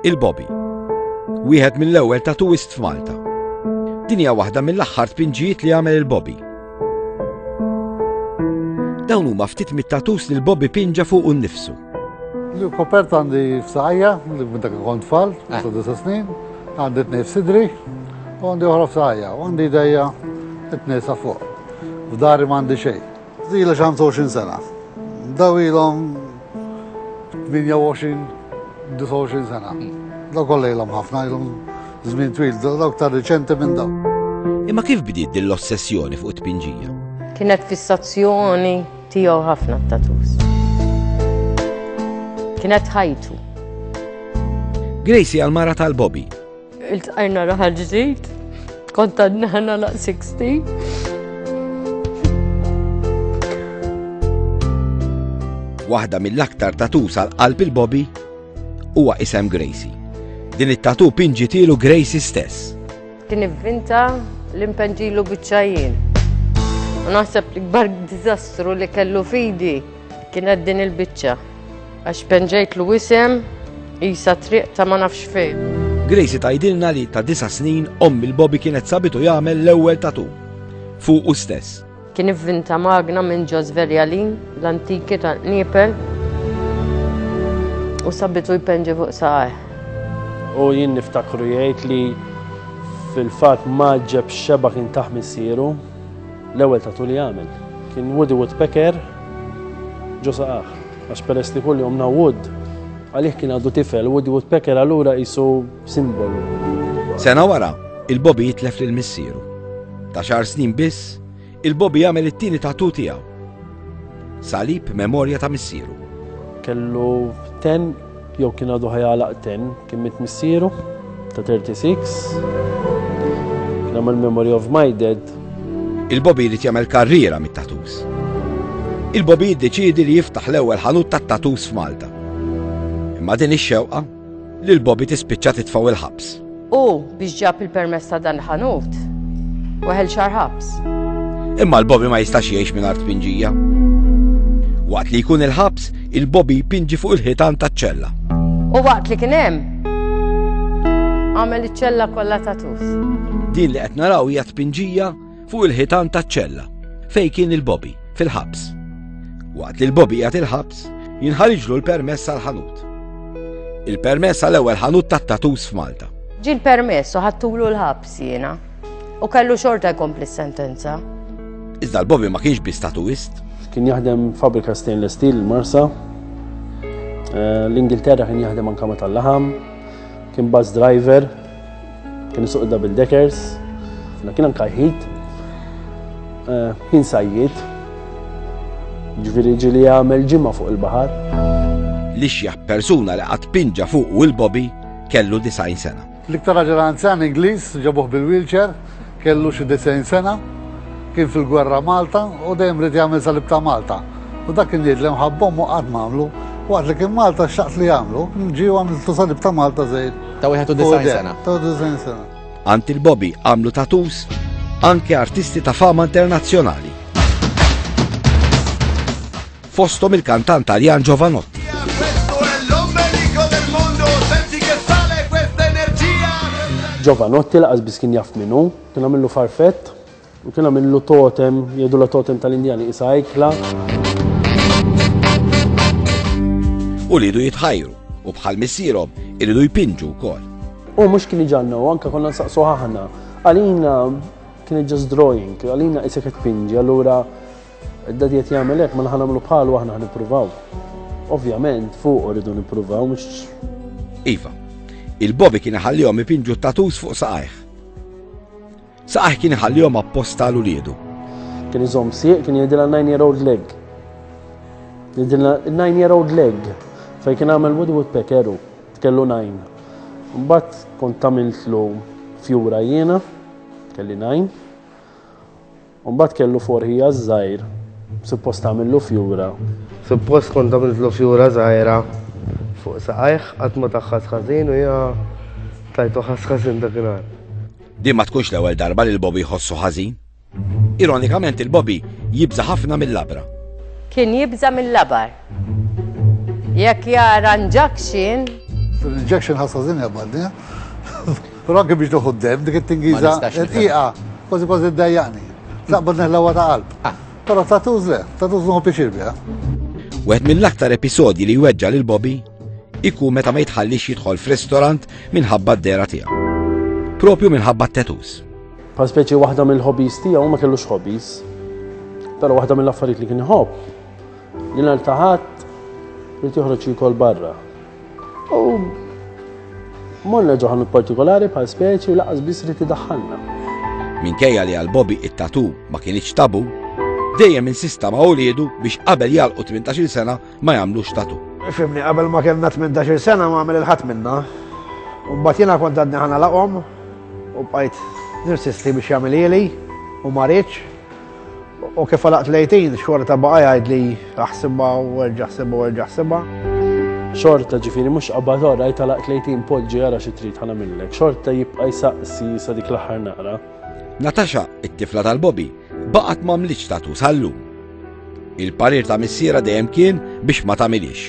Il-Bobby. Wieħed mill-ewwel tatuwist f'Malta. Din hija waħda mill-aħħar tpinġijiet li għamel il-Bobby. Dawn huma ftit mit-tatus li l-Bobby pinġa fuq u nnifsu. Kopert għandi f'saqajja, li minn dak kont tfal, eh. sa' disa snin, għandi t-nej f'sidri, u għandi oħra f'saqajja, u għandi dajja t-nej sa' fuq. F'dari m'għandi xejn. Zila xi 25 sena. Daw ilhom 28, 29 sena. Daw kollha ilhom ħafna, ilhom żmien twil, daw aktar riċenti minn daw. Imma kif bdiet din l-ossessjoni fuq it-tpinġija? Kienet fissazzjoni tiegħu ħafna t-tatus. Kienet ħajtu. Gracie għal-mara tal-Bobby Iltqajna raħal ġdid, kont għadna laq 60. Waħda mill-aktar tatusa l-qalb il-Bobby huwa isem Gracie. Din it-tatu pinġitilu Gracie stess. Kien ivvinta l-impenġilu bieċajin. U naħseb l-ikbar dizastru li kellu fidi Kienet din il-biċċa għax penġejtlu isem isa triq ta' ma nafx fejn. Gracie tajdilna li ta' disa snin ommi l-Bobby kienet sabitu jagħmel l-ewwel tatu fuq u stess. Kien ivvinta magna minn Ġoż Verjalin l-antiki ta' Nipel u sabitu jpenġi fuq saqaj. U jien niftakru jgħid li fil-fatt ma ġeb xeba kien taħ missieru. L-ewwel tatoo li għamel kien Woody Woodpecker ġo saqajh, għax peress li kuljum na wood, għalih kien għadu tifel, Woody Woodpecker allura qisu simbolu. Sena wara, il-Bobby jitlef lil missieru. Ta' xahar snin biss, il-Bobby jagħmel it-tieni tatoo tiegħu. Salib memorja ta' missieru. Kellu ten Jew kien għadu ħajgħalaq ten, kien mit missieru ta' 36. Kien għamel Memory of My Dead. Il-Bobby li jagħmel karriera mit-tatus. Il-Bobby jiddeċidi li jiftaħ l-ewwel ħanut tat-tatus f'Malta. Imma din ix-xewqa li l-Bobby tispiċċa titfaw il-ħabs. U biex ġab il-permess ta' dan ħanut, weħel xar ħabs. Imma l-Bobby ma jistax jgħix minn art pinġija. Waqt li jkun il-ħabs, il-Bobby pinġi fuq il-ħitan ta' ċella. U waqt li kien hemm, għamel iċ-ċella kollha ta' tus. Din li qed naraw hija tpinġija Fuq il-ħitan taċ-ċella, fej kien il-Bobby, fil-ħabs. Waqt li l-Bobby għat il-ħabs, jinħariġlu l-permess għal-ħanut. Il-permess għal-ewwel ħanut tat-tatus f'Malta. Ġi l-permess u ħattulu l-ħabs jiena. U kellu xorta jkompli s-sentenza. Iżda l-Bobby ma kienx bi statuist. Kien jaħdem fabrika stainless steel marsa. Eh, L-Ingilterra kien jaħdem anka meta l-laħam. Kien bus driver Kien suq double deckers, fna kien anka ħid, eh, kien sajjid, ġviri ġili għamel ġimma fuq il-bahar. Li xjaħ persuna li għat pinġa fuq u il-bobi kellu 90 sena. L-iktar raġel anzan Ingliż ġabuh bil-wheelchair Kellu xi disgħin sena, kien fil-gwerra Malta u dejjem ried jagħmel salib ta' Malta. U dak kien jgħid li mħabba ommu qatt m'għamlu. Waqt li kien Malta xtaqt li jagħmlu, ġie u għamiltlu salib ta' Malta żgħir. Ta' 91 sena. Ta' 91 sena. Għand il-Bobby għamlu tattoos anke artisti ta' fama internazzjonali. fosthom il-kantant Taljan Jovanotti. Jovanotti laqas biss kien jaf minnu, kien għamillu farfett u kien għamillu totem, jgħidu la totem tal-Indjani isa ikla. U li jitħajru u bħal missierhom iridu jpinġu wkoll. U mhux kien iġanna u anke konna nsaqsu ħahna. Għalina kien just drawing, għalina isek qed pinġi, allura Id-Daddy qed jagħmel hekk, mela ħa nagħmlu bħalu aħna ħa nippruvaw. Ovvjament fuq rridu nippruvaw mhux. Iva, il-Bobby kien iħallihom ipinġu tatus fuq saqajh. Saqajh kien iħallihom apposta l uliedu. Kien iżomm sieq, kien jgħidilha 9 year old leg. Jgħidilha 9 year old leg. Fejn kien għamel Woodwood Pekeru, tkellu 9. Mbagħad kont tagħmiltlu fjura jiena, kelli 9. U mbagħad kellu forħija żgħir, suppost tagħmillu fjura. Suppost kont tagħmillu fjura żgħira fuq saqajh qatt ma taħħas ħażin u hija tajtu ħass ħażin dak il Din ma tkunx l-ewwel darba li l-Bobby jħossu ħażin. Ironikament il-Bobby jibża ħafna mill-labra. Kien jibża mill-labar. Jekk jara injection. Injection ħassazin jabadni. Però anke biex nieħu d-demm, dik it-Tingiża rqiqa kważi kważi ddejjaqni. Naqbad neħlewha ta' qalb. Ah. Però tattoos le, tattoos nieħu pjaċir biha. Wieħed mill-aktar episodji li jweġġa' lil Bobby ikun meta ma jitħallix jidħol f'ristorant minħabba d-dera tiegħu. Propju minħabba t-tetus. Pa speċi waħda mill-hobbies tiegħu ma kellux hobbies. Però waħda mill-affarijiet li kien iħobb li naltaħat li tieħroġ jikol barra. U morna ġo ħanut partikolari bħal speċi u laqas biss riti daħħalna. Minkejja li għal Bobby it-tatu ma kienx tabu, dejjem insista ma' ulidu biex qabel jalqu 18 sena ma jagħmlux tatu. Fimni, qabel ma kellna 18 sena ma għamil il-ħadd minna. U mbagħad jiena kont għadni ħana laqhom u bqajt nirsisti biex jagħmel ili u ma rridx. U kif għalaqt lejtin, xorta baqa jgħid li aħsibha u erġa' ħsibha u erġa' ħsibha. Xorta ġifieri mhux qabad ora jgħid għalaqt lejtin poġġi jara xi trid ħana minnlek. Xorta jibqa' jsaqsi sa dik l-aħħar naqra. Natasha, it-tifla tal-Bobby, baqgħet m'għamlitx tatu sal-lum. Il-parir ta' missiera dejjem kien biex ma tagħmilix.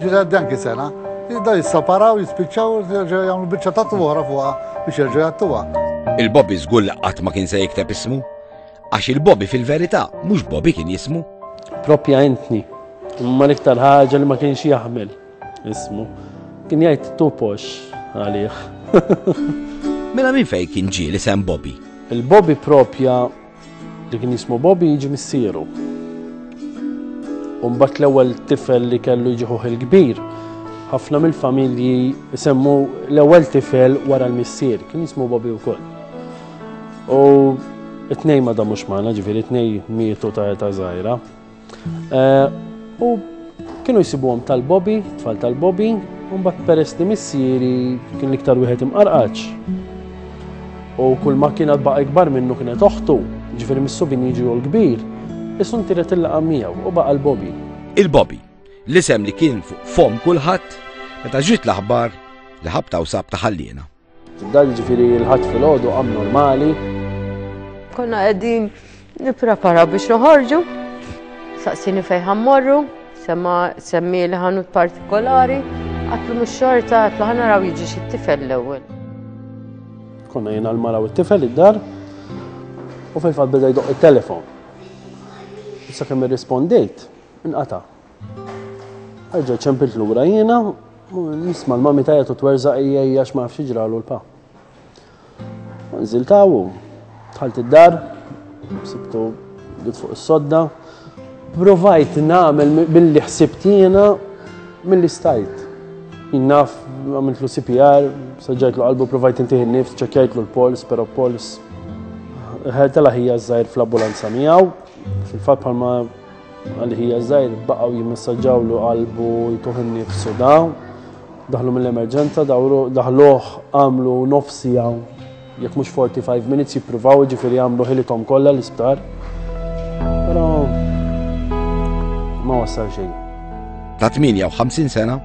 Ġiet għaddi anki sena, jibda jissaparaw, jispiċċaw, jerġgħu jagħmlu biċċa ta' oħra fuqha biex jerġgħu jattuha. Il-Bobby żgur li qatt ma kien se jikteb ismu, għax il-Bobby fil-verità mhux Bobby kien jismu. Propja entni, imma l-iktar ħaġa li ma kienx jaħmel ismu. Kien jgħid tupox għalih. Mela minn fejn kien ġie li sem Bobby? Il-Bobby propja Li kien jismu Bobby jiġi missieru. Umbat l-ewwel tifel li kellu jiġi ħuħ il-kbir. Ħafna mill-familji semmu l-ewwel tifel wara l-missier, kien jismu Bobby wkoll. U it-tnej ma damux magħna, ġifieri t-tnej mietu ta' eta żgħira. Eh, u kienu jsibuhom tal-Bobby, tfal tal-Bobby, u mbagħad peress li missieri kien l-iktar wieħed imqarqaċ. U kull ma kien baqa' ikbar minnu kienet oħtu, ġifieri mis-subin jiġu l-kbir, isun tiret il-laqa miegħu u baqa' l-Bobby. Il-Bobby, l-isem li kien fuq fom kulħadd, meta ġiet l-aħbar li ħabta u sab taħallina. Dal ġifiri l-ħadd fil-ħodu abnormali. Konna qegħdin nipprepara biex noħorġu, saqsini fejn ħammorru, semma semmi li ħanut partikolari, għatlu mux xorta għatlu ħana raw jiġi xi tifel l-ewwel. Konna jena l-mara u t-tifel id-dar u fil-fatt beda jdoq il-telefon. Issa kemm irrispondejt, inqata' Erġa' ċempilt lura jiena, nisma' l-mami tajja u twerżaq hija hija x'ma nafx ġralu l-pa. Nżilt hawn, dħalt id-dar, sibtu bdiet fuq is-sodda. Provajt nagħmel billi ħsibt jiena milli stajt. Jinnaf għamiltlu CPR, saġġajtlu qalbu provajt intiħi nifs, ċekjajtlu l-pols, pero pols. Ħertela ħija żgħir fl-ambulanza miegħu, fil-fatt bħalma Għal ħija żgħir baqgħu jimmessaġġawlu qalbu jtuħ innifsu daw. Daħlu mill-emerġenza, daħluh għamlu nofsi għaw. Jekk mhux 45 minutes jippruvaw ġifieri għamlu ħilithom kollha l-isptar. Però ma wassal xejn. Ta' 58 sena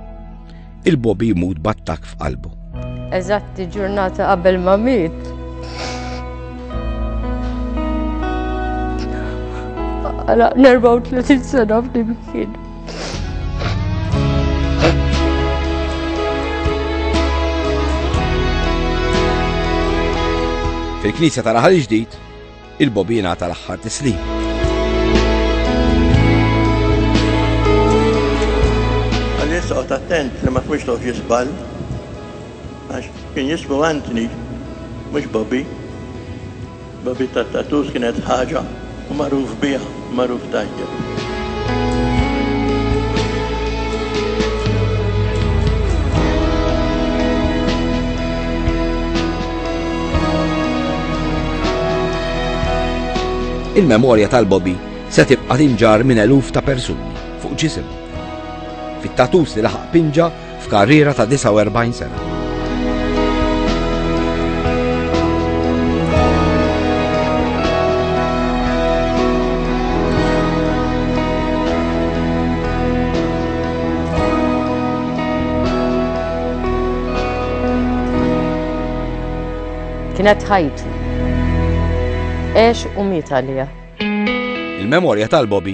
Il-Bobby jmut battak f'qalbu. Eżatti ġurnata qabel ma miet. Għala 34 sena f'dimkien. Fil-Knisja ta' Raħal Ġdid, Il-bobina tal-aħħar tislim. Għalissa qgħod attent li ma tkunx toqgħod jisbal. Għax kien jismu Antni, mhux Bobby. Bobby tat-tatus kienet ħaġa u magħruf biha. magħruf tajjeb. Il-memorja tal-Bobby se tibqa' tinġar minn eluf ta' persuni fuq ġisim. Fit-tatus li laħaq pinġa f'karriera ta' 49 sena. kienet ħajtu. Ex u miet għalija. Il-memorja tal-Bobby